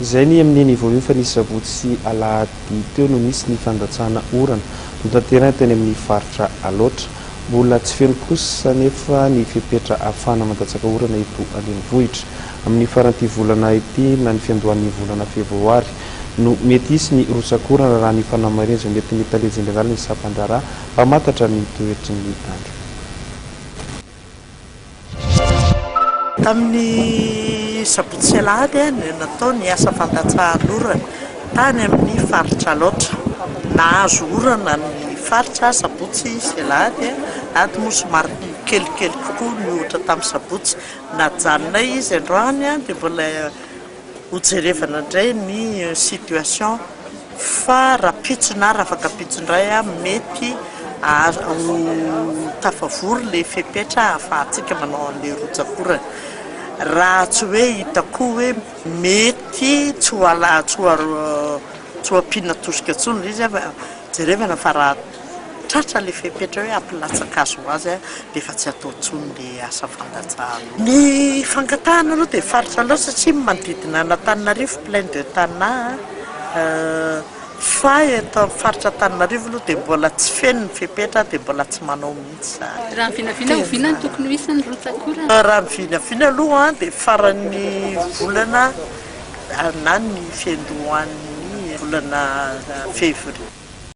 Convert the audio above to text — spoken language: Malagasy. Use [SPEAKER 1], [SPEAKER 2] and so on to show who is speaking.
[SPEAKER 1] Izay ny amin'io niveau io fa ny sabotsy sy alahady teo no nisy ny fandatsahana orana notanterahina teny amin'ny faritra Alaotra. Mbola tsy feno kosa anefa ny fepetra ahafahana mandatsaka orana eto an-drenivohitra. Amin'ny faran'ity volana ity na ny fiandohan'ny volana febroary no mety hisy ny rotsak'orana raha ny fanamarin'izay nentin'ny tale jeneralin'ny sampandraharaha mpamantatra ny toetry ny andro.
[SPEAKER 2] Tamin'ny sabotsy sy alahady no natao ny asa fandatsahan'orana tany amin'ny faritra Alaotra. Nahazo orana ny faritra sabotsy sy alahady, ady moa somary kelikely kokoa mihoatra tamin'ny sabotsy. Najanonay izy androany dia mbola ho jerevana indray ny situation fa rahampitso na raha afaka ampitso indray mety ho tafavory ilay fepetra ahafahantsika manao an'ilay rotsak'orana raha tsy hoe hita koa hoe mety tsy ho ampiana tosika intsony ilay izy, jerevana fa raha Tratra ilay fepetra hoe hampilatsa-kazo ho azy dia efa tsy atao intsony ilay asa fandatsahana. Ny fangatahana aloha dia faritra loatra satria manodidina an'Antananarivo, plein de Tana, fa eto amin'ny faritra Antananarivo aloha dia mbola tsy feno ny fepetra dia mbola tsy manao mihitsy izany. Raha ny vinavina
[SPEAKER 3] oviana no tokony ho isan' ny rotsak'orana? Raha ny vinavina
[SPEAKER 2] aloha dia faran'ny volana na ny fiandohan'ny volana février.